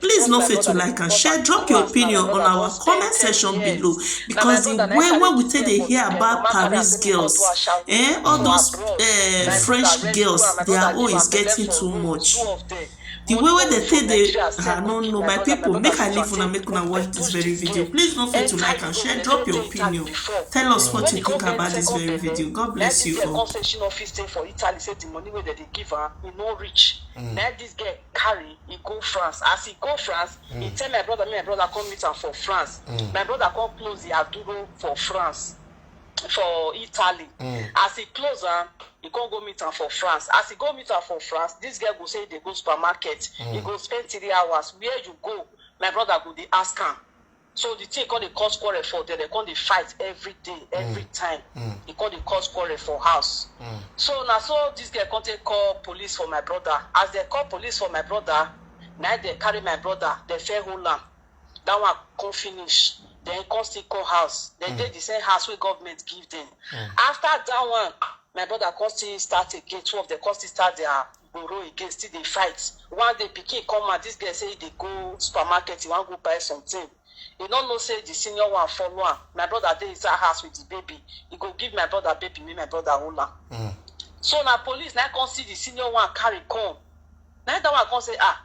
Please no fail to like and share, drop your opinion on our comment section below because the way wey we take dey hear about Paris girls, eh, all those eh, French girls, their own is getting too much. The way wey dem take dey, I no know, my people, make I leave una, make una watch this very video. Please no fail to like and share, drop your opinion, tell us what you think about this very video. God bless you all. Come say she no fit stay for Italy, say the money wey dem dey give am, e no reach. Na this girl carry e go france as e go france mm. e tell my brother make my brother come meet am for france mm. my brother come close the aduro for france for italy mm. as e close am e come go meet am for france as e go meet am for france this girl go say e dey go supermarket mm. e go spend three hours where you go my brother go dey ask am so the thing come dey cause quarrel for there dem come dey fight every day every mm. time mm. e come dey cause quarrel for house mm. so na so this girl come take call police for my brother as dem call police for my brother na dem carry my brother dem fair hold am that one come finish then come still call house dem mm. dey the same house wey government give dem mm. after that one my brother come still start again two of them come still start their gboro again still dey fight one day pikin come out this girl say e dey go supermarket he wan go buy something he no know say the senior one follow am my brother dey inside house with the baby he go give my brother baby make my brother hold am mm. so na police na come see the senior one carry come na that one come say ah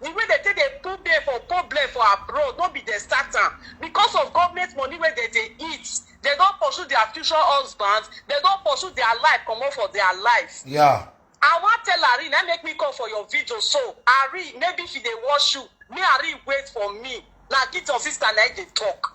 The way dem take dey put dem for problem for abroad no be dem start am. Because of government money wey dem dey eat, dem don pursue their future husbands, dem don pursue their life comot for their life. Yeah. I wan tell Arin, na im make me come for your video so. Arin, maybe she dey watch you, make Arin wait for me. Na Gideon sister na im dey talk.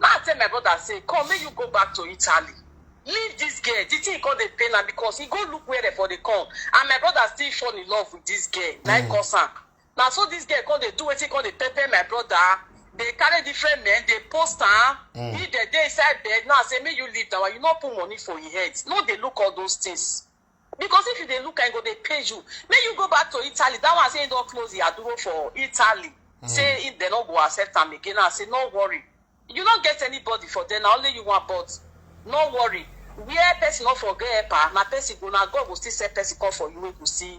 na i tell my brother say come make you go back to italy leave this girl the thing come dey pain am because he go look where dem for dey come and my brother still fall in love with this girl na mm. cause am na so this girl come dey do wetin come dey pepper my brother dey carry different men dey post am mm. he dey dey inside bed now say make you leave that one you no put money for your head no dey look all those things. Because if you dey look am, e go dey pain you. Make you go back to Italy. That one say he don close the aduro for Italy. Mm. Say if they no go accept am again, I say no worry. You no get anybody for there, na only you want, but no worry. Where person no for get helper, na person go na God go still send person come for you wey go see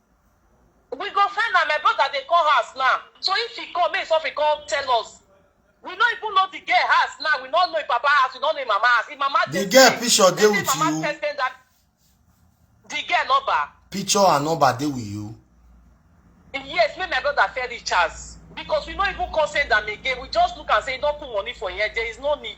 We go find am, my brother dey come house now, so if he come make he sofri come tell us. We no even know the girl house now, we no know him papa house, we no know him mama house, him mama The dey girl stay. picture dey They say with mama you. first send that the girl number. Picture and number dey with you. Yes, make my brother fair reach us because we no even come send am again. We just look and say he don put money for him head. There is no need.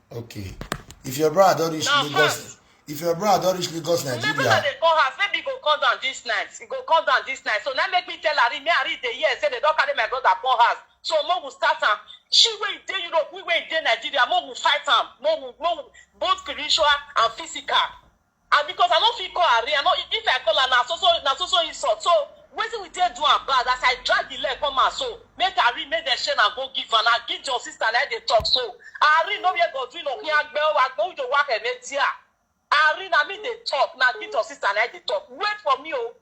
okay if your brother don reach Now, lagos fast. if your brother don reach lagos Remember nigeria that they call house, maybe go come down this night. He go come down this night. So now make me tell Ari, me Ari dey here say they don't carry my brother come house. So mo will start am. She wey dey Europe, we wey dey Nigeria, mo will fight am. Mo will, mo will, both spiritual and physical. And because I no fit call her real, I no, if I call her na so so na so so insult. So wetin we take do am bad as I drag the leg come out so make her real make dem share na go give am na give your sister na dey talk so her real no where God real okin agbe o agbe o jo wa kene tia her real na me dey talk na give your sister na dey talk wait for me o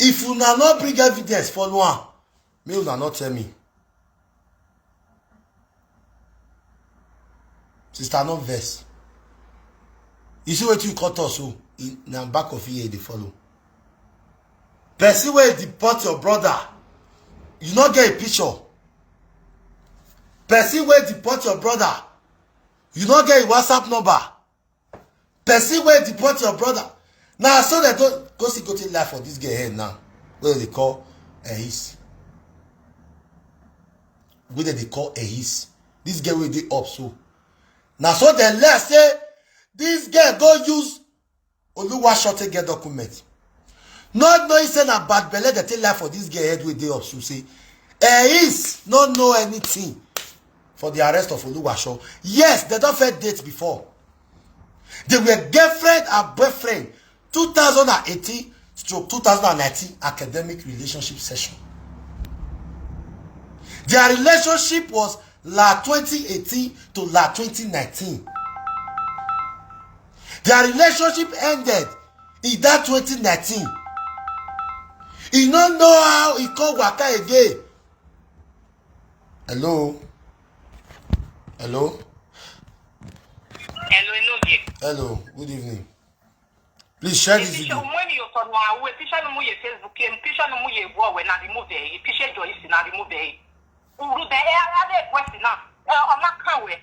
if una no bring evidence follow am make una no tell me sister no vex you see wetin you cut us so e- na back of ear e dey follow person wey deport your brother you no get a picture person wey deport your brother you no get a whatsapp number person wey deport your brother na so dem go go see gotin life for dis girl head now wey dem dey call ehis wey dem dey call ehis dis girl wey dey up so na so dem learn say dis girl go use Oluwasote get document. Not knowing say na bad belle dey take life for this girl head wey dey up so say eh is no know anything for the arrest of Oluwaso. Yes, they don first date before. They were girlfriend and boyfriend 2018 stroke 2019 academic relationship session. Their relationship was la 2018 to la 2019. their relationship ended in that 2019 he no know how he come waka again hello hello hello enoge hello good evening please share this video. Uru de e ara de kwesi na. E ona kanwe.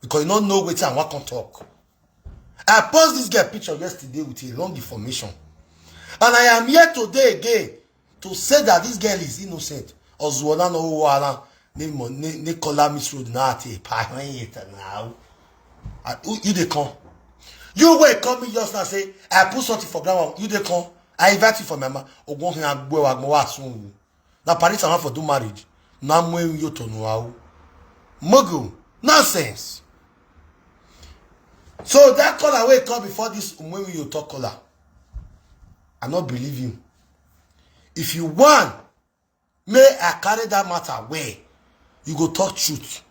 because you no know wetin i wan come talk i post this girl picture yesterday with a long information and i am here today again to say that this girl is innocent ọzụọla na ụwa ala n'ịkọla miss road na ati epa ahụ ya na ahụ you dey come you wey come me just now say i put something for ground you dey come i invite you for my ma ogun hin agbo agbo wa sun na paris and for do marriage na mo en yo to no awu mugu nonsense so that color wey come before this umwenwi yo talk color i no believe you if you want may i carry that matter well you go talk truth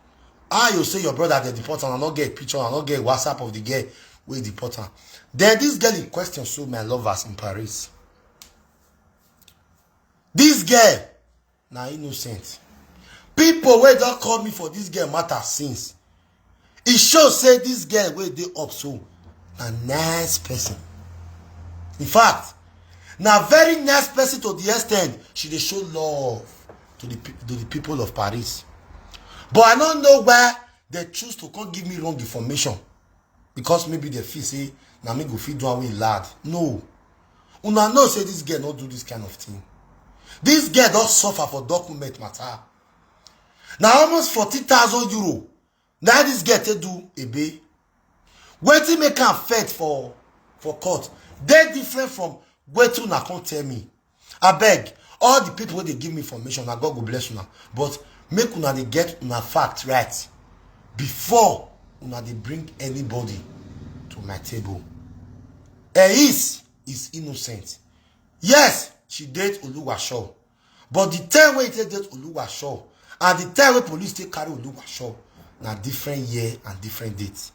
how you say your brother dey deport am i no get picture i no get whatsapp of the girl wey deport am then this girl in question so my lovers in paris This girl na innocent. People wey don call me for this girl matter since. E show say this girl wey dey up so na nice person. In fact, na very nice person to the extent she dey show love to the, to the people of Paris. But I no know why they choose to come give me wrong information. because maybe they feel say na me go fit do am wey lad no una know say this girl no do this kind of thing this girl don suffer for document matter na almost forty thousand euro na this girl take do ebe wetin make am fet for for court dey different from wetin una come tell me abeg all the people wey dey give me information na god go bless una but make una dey get una fact right before una dey bring anybody to my table eis is innocent yes she date oluwasho but the time wey e take date oluwasho and the time wey police take carry oluwasho na different year and different date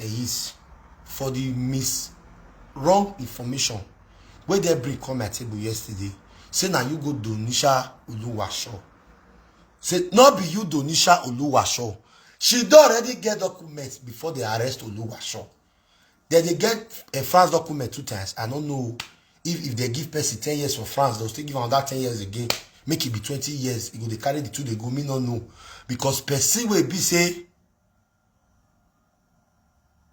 Eyis for the mis wrong information wey dem bring come my table yesterday say na you go Donisha Oluwasho say no be you Donisha Oluwasho she don already get document before they arrest Oluwasho dem dey get uh, France document two times I no know if if they give person ten years for France they'll still give another ten years again make e be twenty years e go dey carry the two dey go me no know because person wey be say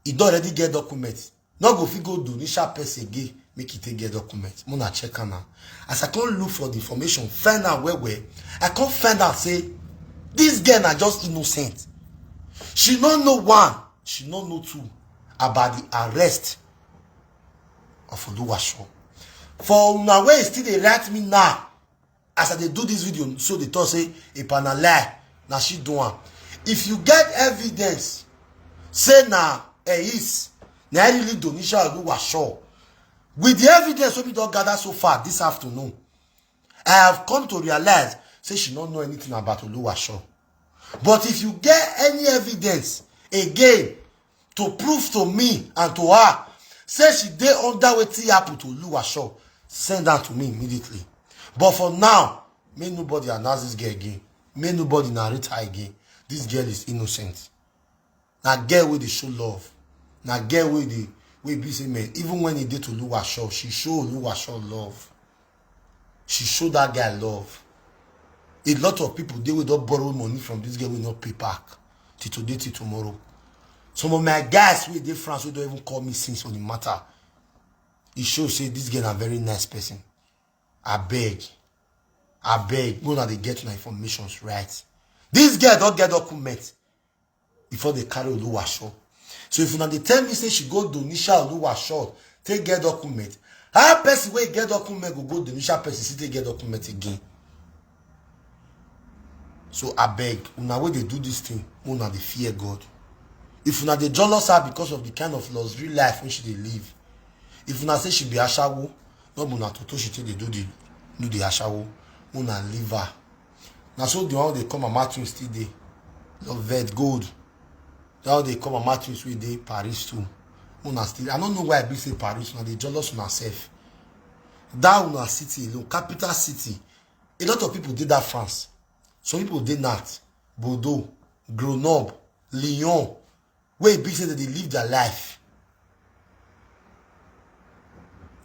e don already get document no go fit go do nisha person again make e take get document make una check am now as i come look for the information find out well well i come find out say this girl na just innocent she no know one she no know two about the arrest of oluwaseun for una wey still dey write me now as i dey do this video so dey talk say ipa na lie na she do am if you get evidence say na eis na i really donisha oluwa sure with the evidence wey we don gather so far this afternoon i have come to realize say she no know anything about oluwa sure But if you get any evidence again to prove to me and to her, say she dey under wetin happen to Oluwasho, send her to me immediately. But for now, may nobody announce this girl again. May nobody narrate her again. This girl is innocent. na girl wey dey show love na girl wey dey wey be say man even when e dey to oluwasho she show oluwasho love she show that guy love a lot of people dey wey don borrow money from this girl wey no pay back till today till tomorrow some of my guys wey dey france wey don even call me since on the matter e show say this girl na very nice person abeg abeg make una dey get una informations right this girl don get document before they carry Oluwasho. So if una dey tell me say she go Donisha Oluwasho take get document, how person wey get document go go Donisha person still take get document again? So abeg, una wey dey do this thing, una dey fear God. If una dey jealous her because of the kind of luxury life wey she dey live, if una say she be ashawo, no be una toto she take dey do the do the ashawo, una leave her. na so the one dey come mama twins still dey your vet gold that one dey come mama twins wey dey paris too una still i no know why i be say paris una dey jealous una sef that una city alone capital city a lot of people dey that france some people dey nat bordeaux grenoble lyon wey e be say dem dey live their life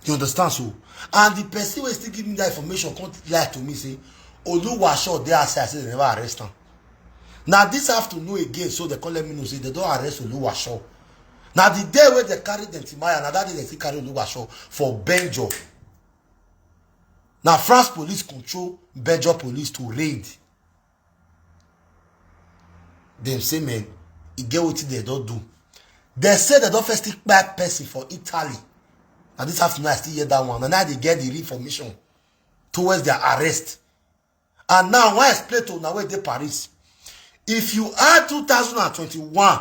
you understand so and the person wey still give me that information come lie to me say oluwasho dey outside say dem never arrest am na this afternoon again so dem come let me know say dem don arrest oluwasho na the day wey dem carry dem timaya na that day dem still carry oluwasho for benjo na france police control benjo police to raid dem say men e get wetin dem don do dem say dem don first still kpai person for italy na this afternoon i still hear that one and now they get the information towards their arrest and now i wan explain to una wey dey paris if you add 2021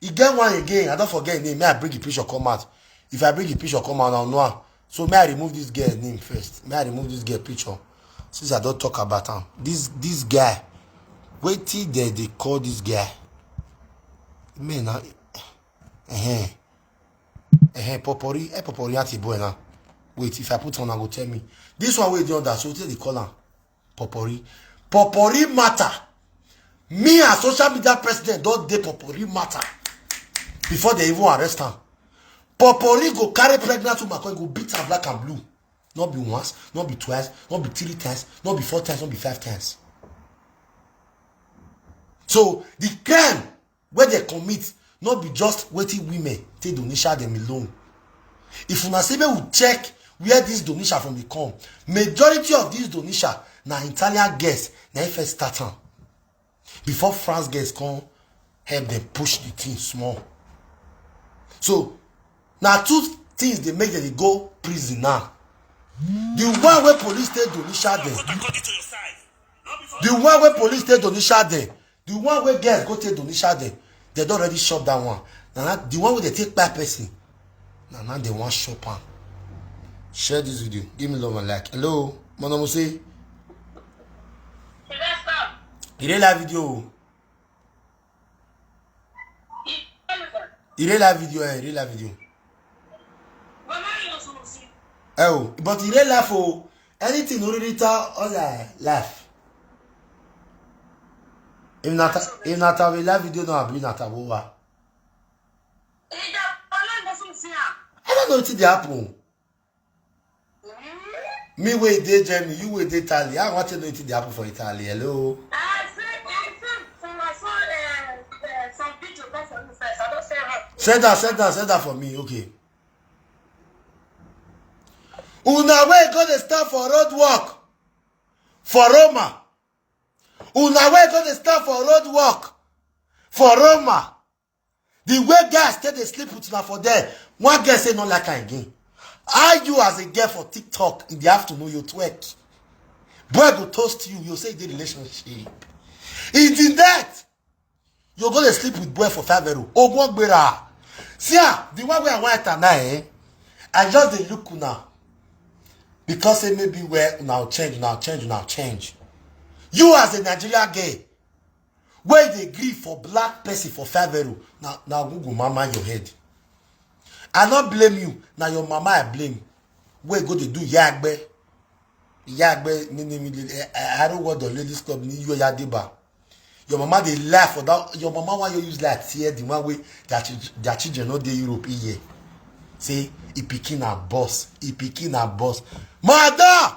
e get one again i don forget im name may i bring the picture come out if i bring the picture come out na know am so may i remove this girl name first may i remove this girl picture since i don talk about am this this guy wetin dem dey call this guy me na ehem ehem popori eh popori aunty boy na wait if i put on i go tell me this one wey dey under so wetin dem dey call am Popori. Popori matter. Me as social media president don't dey Popori matter. Before they even arrest her. Popori go carry pregnant woman, come go beat her black and blue. Not be once, not be twice, not be three times, not be four times, not be five times. So the crime wey dem commit no be just wetin women take donisha dem alone if una say make we check where dis donisha from dey come majority of dis donisha na italian girls na im first start am before france girls come help dem push the thing small so na two things dey make dem dey go prison now the one wey police take donisha dem the one wey police take donisha dem the one wey girls go take donisha dem dem don already shop that one na na the one wey dey take kpai person na na dem wan shop am share this video give me love and like hello monamuse you dey live video o you dey live video eh you dey live video ẹ o but in real life o anything no really tell all their life if na ta if na ta we live video now abi na ta wo wa i don't know wetin dey happen me wey dey germany you wey dey italy i want to know wetin dey happen for italy hello. send am send am send am for me okay. una wey go dey stand for road work for roma una wey go dey stand for road work for roma the way guys take dey sleep with una for there one girl say no like am again how you as a girl for tiktok in the afternoon you twerk boy go toast you you say you dey relationship in the night you go dey sleep with boy for five euro ogun gbera see ah the one wey i wan enter now eh i just dey look una because say maybe where una change una change una change you as a nigeria girl wey dey gree for black person for favero na na google mama your head i no blame you na your mama i blame wey go dey do yagbe yagbe nini arrow word of ladies club ni yo yadeba your mama dey lie for that your mama wan you use lie tear the one wey their chil- their children no dey europe e year say e pikin na boss e pikin na boss mother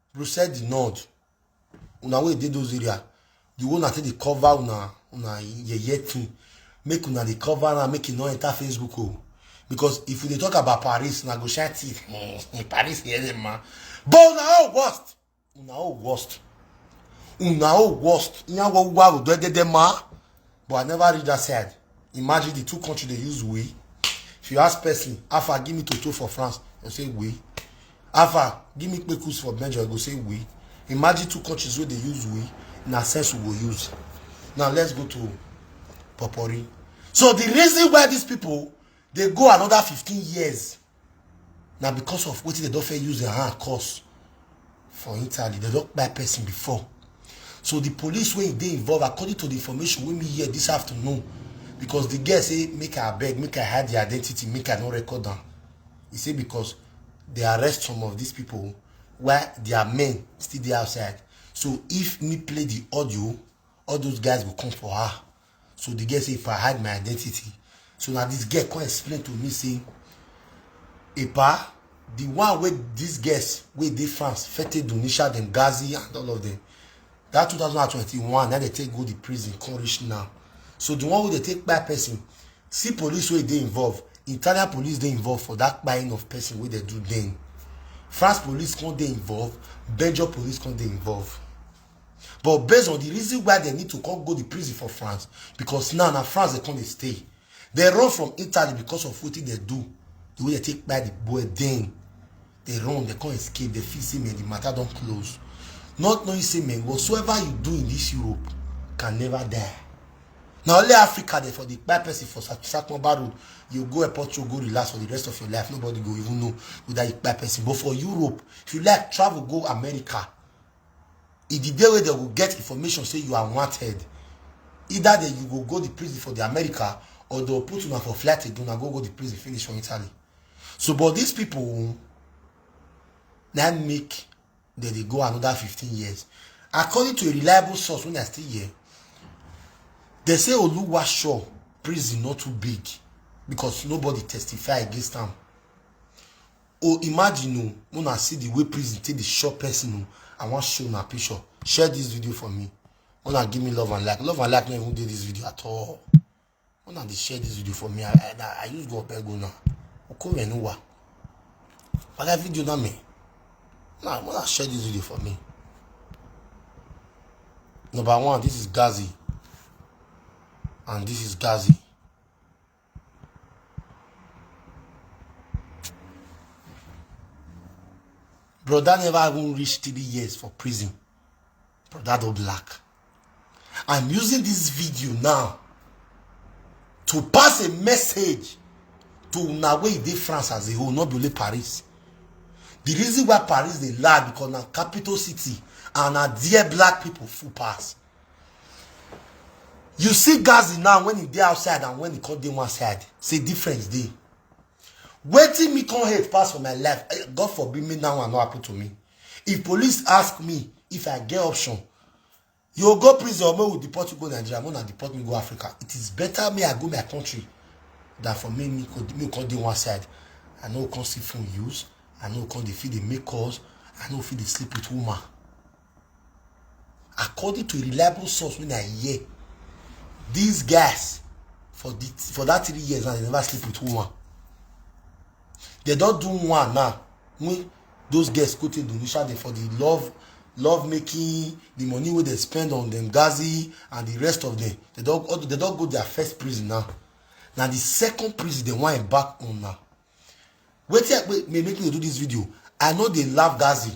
Brussels di North una wey dey those area the one na take dey cover una una yeye thing make una dey cover am make e no enter Facebook o because if you dey talk about Paris na go shine teeth hmm, Paris yẹn dey ma but una all worst una all worst una all worst yan wọ wa odo ẹdẹdẹ ma. but i never reach that side imagine the two countries dey use we if you ask person afa give me toto for france dem say we afa give me kpekus for belgium dem go say we imagine two countries wey dey use we na sense we go use now let's go to popori so the reason why these people dey go another fifteen years na because of wetin dem don fit use their hand cause for italy dem don kpai person before so the police wey dey involved according to the information wey me hear this afternoon because the girl say make i abeg make i hide the identity make i no record am he say because they arrest some of these people while their men still dey outside so if me play the audio all those guys go come for her so the girl say if i hide my identity so na this girl come explain to me say epa the one wey these girls wey dey france fete donisha dem gazi and all of them that 2021 na dey take go the prison come reach now so the one wey dey take kpai person see police wey dey involved italian police dey involved for that kpaing of person wey dey do then france police come dey involved belgium police come dey involved but based on the reason why dem need to come go the prison for france because now na france dem come dey stay dem run from italy because of wetin dem do the way dem take kpai the boy then dem run dem come escape dem feel say man the matter don close not knowing say man whatsoever you do in this europe can never die na only africa dey for the kpai person for satumba road you go airport you go relax for the rest of your life nobody go even know whether you kpai person but for europe if you like travel go america e di day wey dem go get information say you are wanted either day you go go di prison for di america or dem put una for flight again una go go di prison finish for italy so but dis pipo na make dem dey go another fifteen years according to a reliable source wey i still hear dem say oluwasho prison no too big because nobody testify against am Oh, imagine oh, when I see the way prison take the shop person oh, I want show my picture. Share this video for me. When I give me love and like, love and like not even do this video at all. When I share this video for me, I I, I use God beg now. Okay, we know what. But that video not me. Now, when I share this video for me. Number one, this is Gazi. And this is Gazi. Brother never even reached three years for prison. Brother do black. I'm using this video now to pass a message to una wey dey France as a whole, not only Paris. The reason why Paris dey lie because na capital city and na there black people full pass. you see gazi now when e dey outside and when e come dey one side say difference dey wetin me come hate pass for my life eh, god forbid me now and no happen to me if police ask me if i get option you go go prison or make we deport you go nigeria make una deport me go africa it is better me i go my country than for me me go me come dey one side i no come see phone use i no come dey fit dey make calls i no fit dey sleep with woman according to reliable source wey i hear these guys for the for that three years now they never sleep with woman they don do one now when those girls go to indonesia dey for the love love making the money wey dem spend on dem gazi and the rest of them they don all- they don go their first prison now na the second prison dem wan embark on now wetin i wait may make me dey do this video i no dey laugh gazi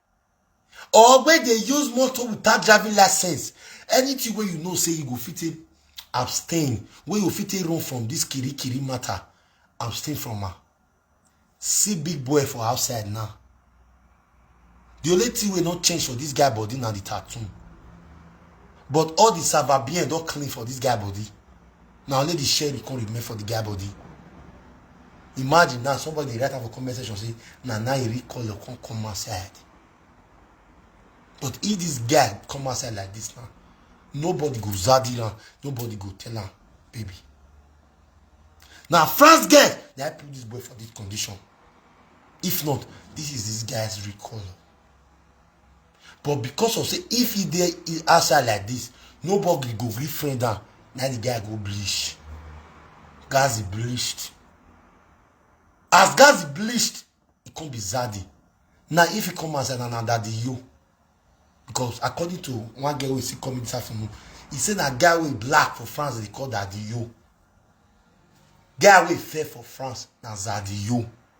or wey dey use motor without driving license anything wey you know say you go fit take abstain wey you fit take run from this kiri kiri matter abstain from am see big boy for outside now the only thing wey no change for this guy body na the tattoo but all the savabian don clean for this guy body na only the sherry come remain for the guy body imagine now somebody dey write am for comment section say na now you recall your come come outside but if this guy come outside like this now nobody go zadi am nobody go tell am baby na france girl na i put this boy for this condition if not this is this guy's recall. But because of say if he dey outside like this, nobody go gree friend am. Na the guy go bleach. Gazi bleached. As Gazi bleached, he come be Zaddy. Now if he come outside, na na daddy yo. Because according to one girl wey see come this afternoon, he say na guy wey black for France dey call daddy yo. Guy wey fair for France na zaddy yo.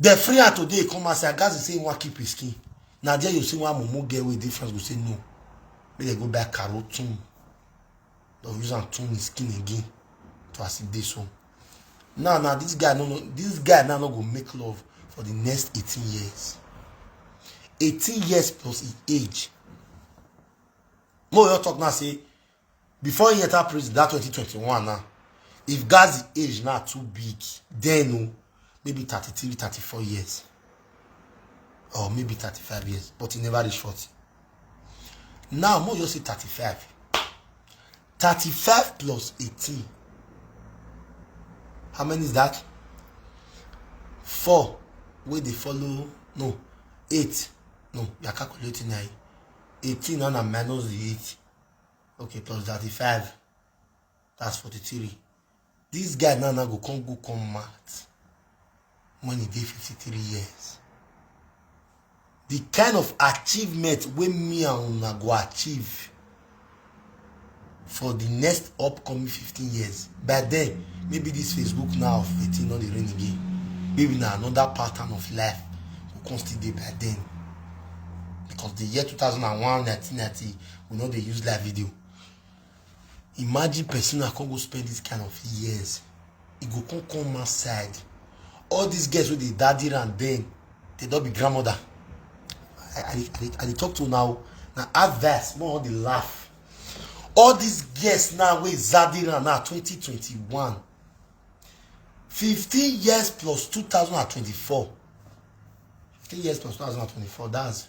Dem free her today, come and say, Gazi say he wan keep his skin. Na there you see one mumu girl wey dey France go say no. Make dem go buy caro tune. Dem use am tune his skin again to as e dey so. Now, now this guy no no this guy now no go make love for the next 18 years. 18 years plus his age. Mo yo talk now say before he enter prison that 2021 now if gazi age now too big then o maybe 33 34 years or maybe 35 years but he never reach 40 now mo just say 35 35 plus 18 how many is that four wey dey follow no eight no you are calculating na eighteen na na minus the eight okay plus thirty five that's forty three this guy now now go come go come mad when he dey fifty three years the kind of achievement wey me and una go achieve for the next upcoming fifteen years by then maybe this facebook now of eighteen no dey reign again maybe na another pattern of life go come still dey by then because the year two thousand and one nineteen ninety we no dey use live video imagine person na come go spend this kind of years e go come come outside all these girls wey dey daddy and then they don be grandmother i i dey i dey talk to una o na advice more dey laugh all these girls now wey zaddy and now twenty twenty one fifteen years plus two thousand and twenty four fifteen years plus two thousand and twenty four that's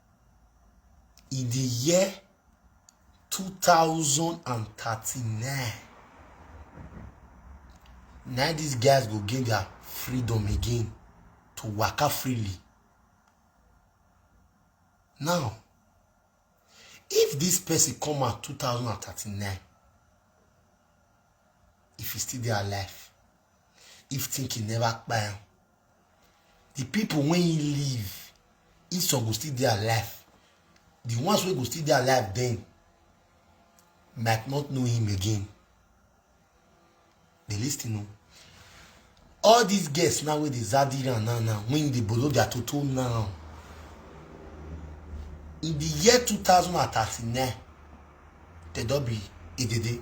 In the year 2039, now these guys go gain their freedom again to waka freely. Now, if this person come out 2039, if he still dey alive, if thinking never kpai am, the people wey he leave if some go still dey alive the ones wey go still dey alive then might not know him again dey lis ten o all these girls now wey dey zadi round now now when you dey bolo their toto now in the year two thousand and thirty-nine they don be edede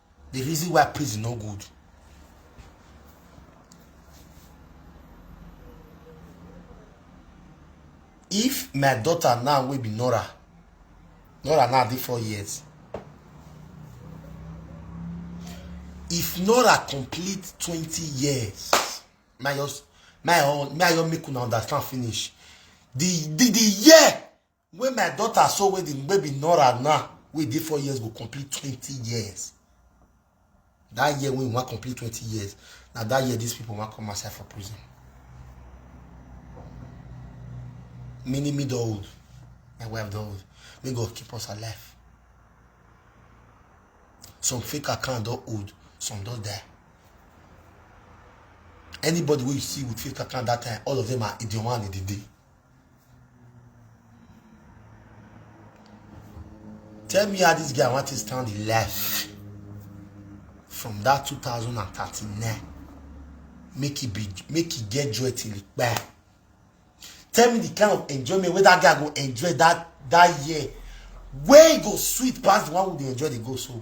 the reason why prison no good if my daughter now wey be nora nora now dey four years if nora complete twenty years my your my own my your make una understand finish the the the year When my daughter saw wey the baby Nora now, wey dey four years go complete twenty years. That year when we wan complete twenty years, na that year these people wan come outside for prison. Meaning me don old, my wife don old. May God keep us alive. Some fake account don old, some don die. Anybody wey you see with fake account that time, all of them are Idioma and Idide. Tell me how this guy want to stand the life from that 2039. Make it be, make it get joy till it buy. Tell me the kind of enjoyment where that guy go enjoy that that year. Where he go sweet past the one who dey enjoy the go so.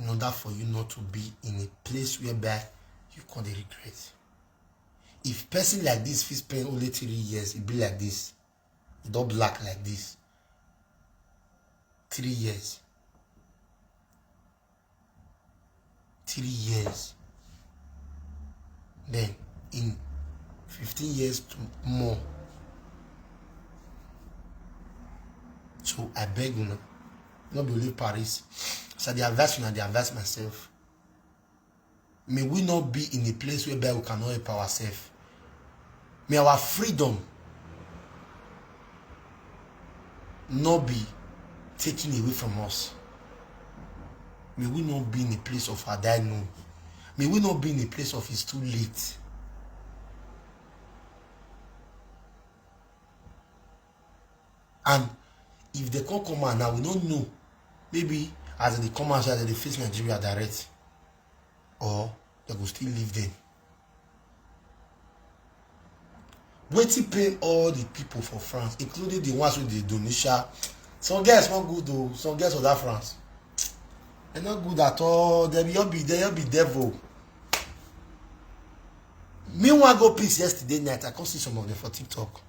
in order for you not to be in a place whereby you come dey regret if person like this fit spend only three years e be like this e don black like this three years three years then in fifteen years to more so i beg una no be only paris as i dey advise una dey advise myself may we not be in a place whereby we cannot help ourselves may our freedom not be taken away from us may we not be in a place of our die no may we not be in a place of it's too late and if they come come out now we no know maybe as they come out they face nigeria direct or they go still leave them. wetin pain all the people for france including the ones wey dey donisha some girls no good o some girls for that france e no good at all dem your be dem your be devil me wan go peace yesterday night i come see some of them for tiktok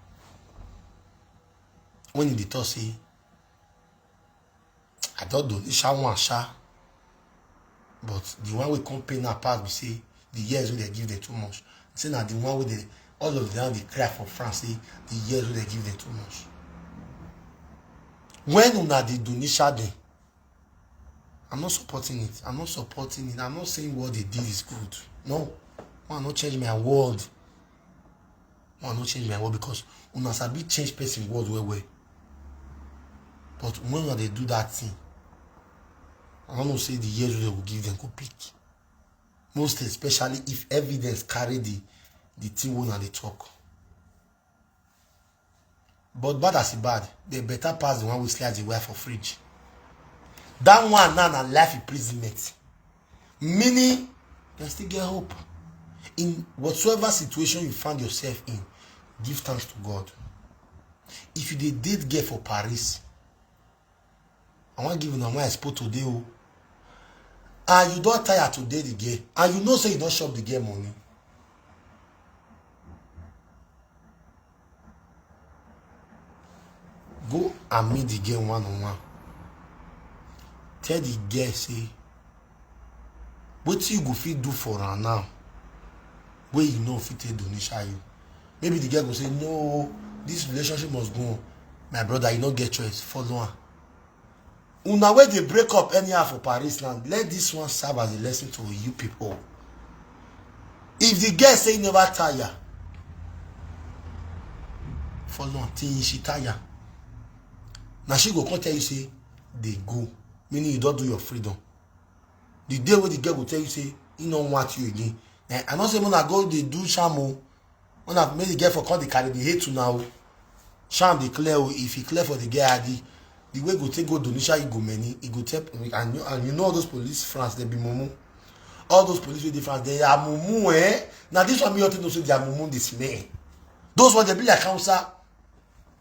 when you dey talk say i don donate sha one sha but the one wey come pain her pass be say the years wey dem give them too much say na the one wey dey all of them dey cry for france say the years wey dem give them too much when una dey donate sha dem i'm not supporting it i'm not supporting it i'm not saying what they did is good no man no change my world Una no change my word because una sabi change person word well well. But when una dey do that thing, I don't know say the years wey dem go give dem go pick. Most especially if evidence carry the the thing wey una dey talk. but bad as e bad dey better pass the one wey slice the wire for fridge that one now na life imprisonment meaning you still get hope in whatsoever situation you find yourself in give thanks to god if you dey date girl for paris I wan give una why I spoke today o. And you don tire to dey the girl and you know say you don chop the girl money. Go and meet the girl one on one. Tell the girl say wetin you go fit do for am now wey you no fit take donation you maybe the girl go say no this relationship must go on my brother you no get choice follow am una wey dey break up anyhow for paris land let this one serve as a lesson to you people if the girl say you never tire follow am till she tire na she go come tell you say dey go meaning you don do your freedom the day wey the girl go tell you say he no want you again eh, i no say una go dey do sham o una make the girl for come dey carry the hate una o sham dey clear o if e clear for the girl adi the way go take go donisha e go many e go tell and you, and you know all those police france dey be mumu all those police wey dey france dey are mumu eh na this one me all take know say their mumu dey smell those ones dey be like hausa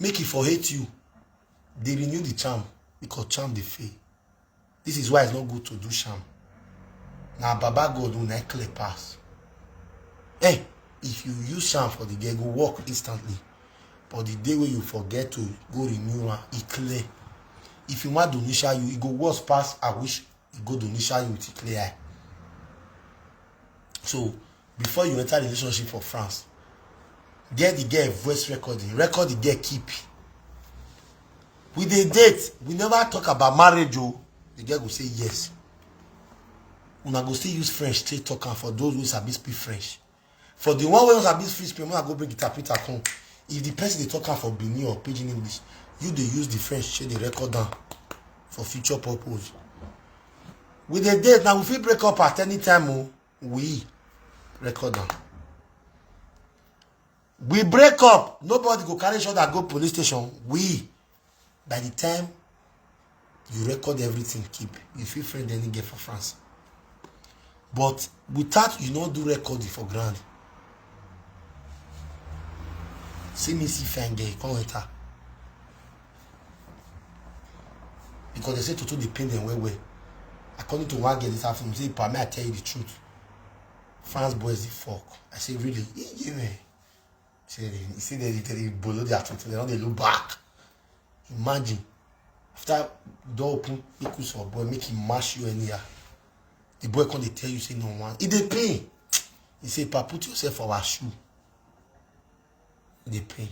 make e for hate you dey renew the charm because charm dey fail this is why it's not good to do sham na baba god una clear pass eh if you use sham for the girl go work instantly but the day wey you forget to go renew am e clear if you wan donisha you e go worse pass i wish e go donisha you with e clear eye so before you enter relationship for france get the girl voice recording record the girl keep we dey date we never talk about marriage o oh. the girl go say yes una go still use french take talk am for those wey sabi speak french for the one wey no sabi speak french una go bring interpreter come if the person dey talk am for benin or pidgin english you dey use the french take dey record am for future purpose we dey date na we fit break up at any time o. Oh. we record am we break up nobody go carry shoulder go police station we by the time you record everything keep you fit friend any girl for france but without you no do recording for ground see me see fine girl come enter because they say toto dey pain them well well according to one girl this afternoon say pa may i tell you the truth france boys dey fuck i say really he give me say they he say they dey dey bolo their toto they no dey look back imagine after door open make you for boy make he mash you anyhow the boy come dey tell you say no one e dey pain he say pa put yourself for our shoe e dey pain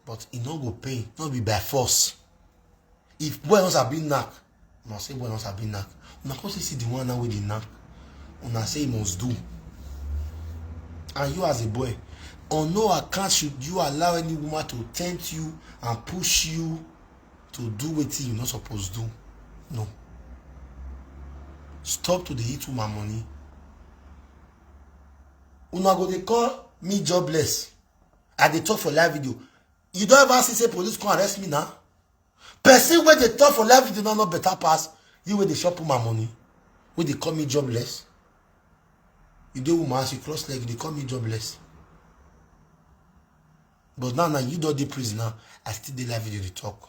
but e no go pain no be by force if boy no sabi knack una say boy no sabi knack una come see the one now wey dey knack una say e must do and you as a boy on no account should you allow any woman to tempt you and push you to do wetin you no suppose do no stop to dey eat woman money una go dey call me jobless i dey talk for live video you don ever see say police come arrest me na person wey dey talk for live video no no better pass you wey dey chop my money wey dey call me jobless you dey woman as you cross leg you dey call me jobless but now na you don dey prison now i still dey live video dey talk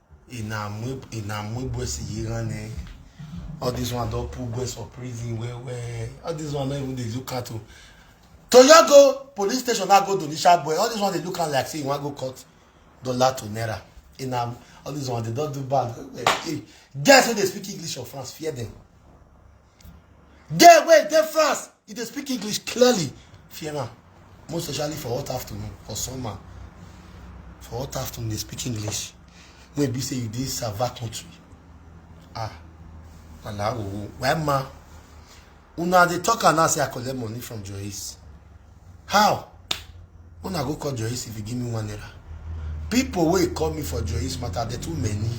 e na mwe e na mwe boys yi ran ne all this one don put boys for prison well well all this one no even dey look at o toyogo police station na go donisha boy all this one dey look am like say you wan go court dollar to naira e na all this one dey don do bad well well hey guys wey dey speak english or france fear them There wey dey France, e dey speak English clearly. Fear am. Most especially for hot afternoon, for summer. For hot afternoon, dey speak English. Wey be say you dey Sava country. Ah, Malawi. Why ma? Una dey talk am now say I collect money from Joyce. How? Una go call Joyce if you give me one naira. People wey call me for Joyce matter, dey too many.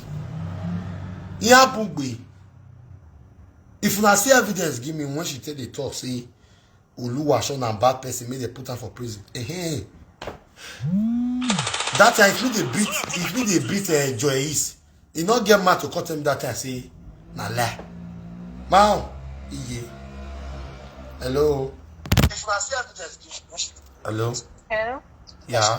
Ihe abugbe. if una see evidence give me when she take dey talk say oluwaseun na bad person make dem put am for prison ehem that time if you dey beat if you dey beat uh, joyce e no get mouth to come tell me that time say na lie mao iye hello if una see evidence give me when she hello Yeah.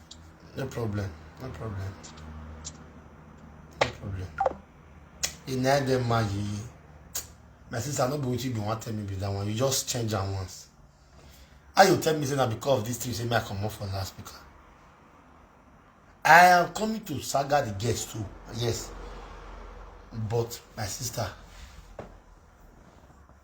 No problem. No problem. No problem. You need them man you. My sister, no be what you be want tell me be that one. You just change am once. How you tell me say na because of this thing say me I comot for last speaker? I am coming to saga the guest too. Yes. But my sister,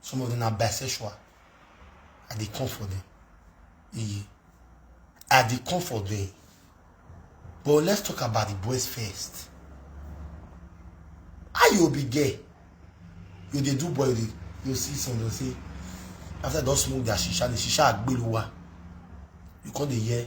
some of them na bisexual i dey come for them iye i dey come for them but let's talk about the boys first how you be girl you dey do boy you dey you see some dey say after they don smoke their shisha the shisha agbelu wa you come dey hear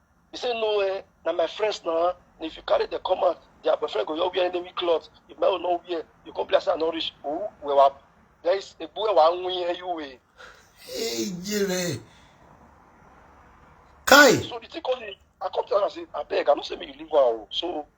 He say no eh, na my friends na. And if you carry the come out, their boyfriend go just wear enemy cloth. If my own no wear, you come be like say I no reach. Ooh, we wa. There is a boy wa nwi eh you eh. Hey, Jere. Kai. So the thing come dey, I come tell am say abeg, I no say make you leave am o. So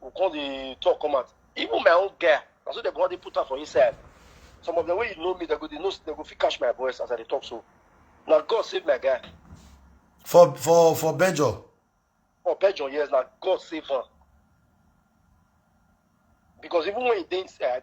go come dey talk come out even my own girl na so dem go come dey put am for inside some of them wey you know me dem go dey know dem go fit catch my voice as i dey talk so na god save my guy for for for belgium for belgium yes na god save am because even when he dey inside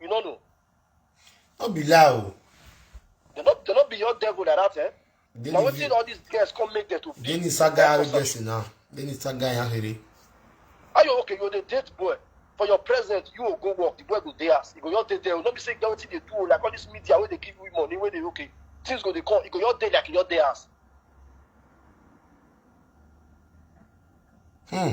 You no know. No be lie o. They no they no be your devil like that, eh? Dey Na ni- wetin all these girls come make them to be. dey ni saga Like person. gbèsè náà dey ni saga yẹn ahèrè. Are you okay? You dey date boy. For your present, you will go work. The boy go dey house. You go your day there. You no be say get wetin dey do o, like all this media wey dey give you money wey dey okay. Things go dey come. You go your day like your day house. Hmm.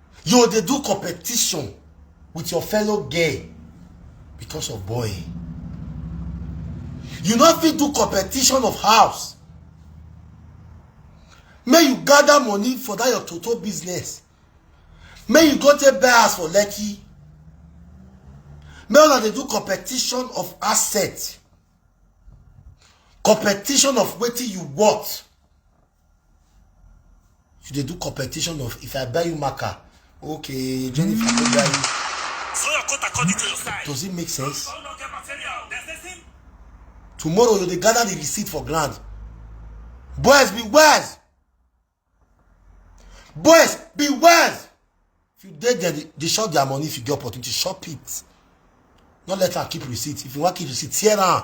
you dey do competition with your fellow gay because of boy you no fit do competition of house make you gather money for that your total business make you go take buy house for lekki make una dey do competition of asset competition of wetin you want you dey do competition of if i buy you marker okay jennifer go buy you Throw your coat according to your size. does it make sense Don't look at material. There's this thing. tomorrow you dey gather the receipt for ground boys be wise boys be wise if you dey there dey- dey shop their money if you get opportunity shop it no let am keep receipt if you wan keep receipt tear am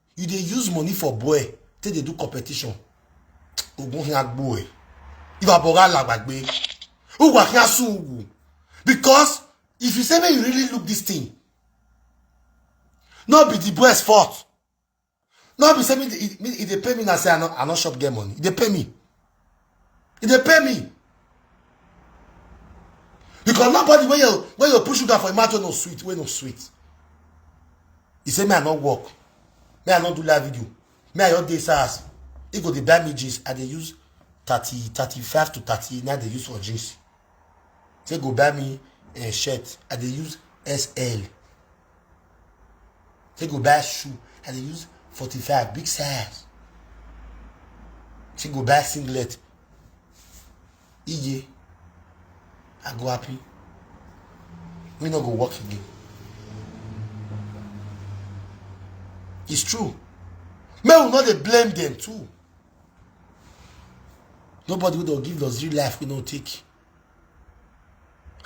you dey use money for boy take dey do competition ogun hin agbo ẹ ìwà bọ̀rọ̀ alàgbàgbé ogun akin asun ogun because if you say make you really look this thing no be the boys fault no be say me dey- me- e dey pay me na say i no i no shop get money e dey pay me e dey pay me because nobody wey you wey you put sugar for im mouth wey no sweet wey no sweet e say me i no work me i no do live video me i just dey sars e go dey buy me jeans i dey use thirty thirty five to thirty na dey use for jeans say go buy me uh, shirt i dey use sl Take go buy shoe. I dey use 45 big size. Take go buy singlet. Iye. I go happy. We no go work again. It's true. May we not dey blame them too. Nobody will give us real life we no take.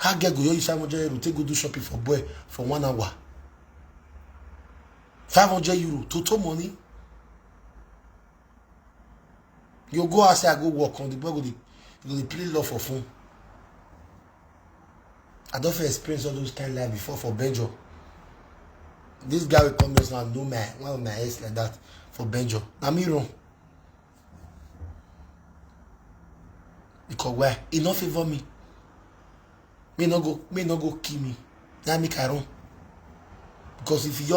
How get go you 500 euro take go do shopping for boy for one hour? 500 euro, total money. You go outside, I go work on the boy go the, go the play love for phone. I don't feel experience all those kind of life before for Benjo. This guy will come here now, no man, one of my ex like that for Benjo. I'm wrong. because why e no favour me me no go me no go kill me na make i run because if you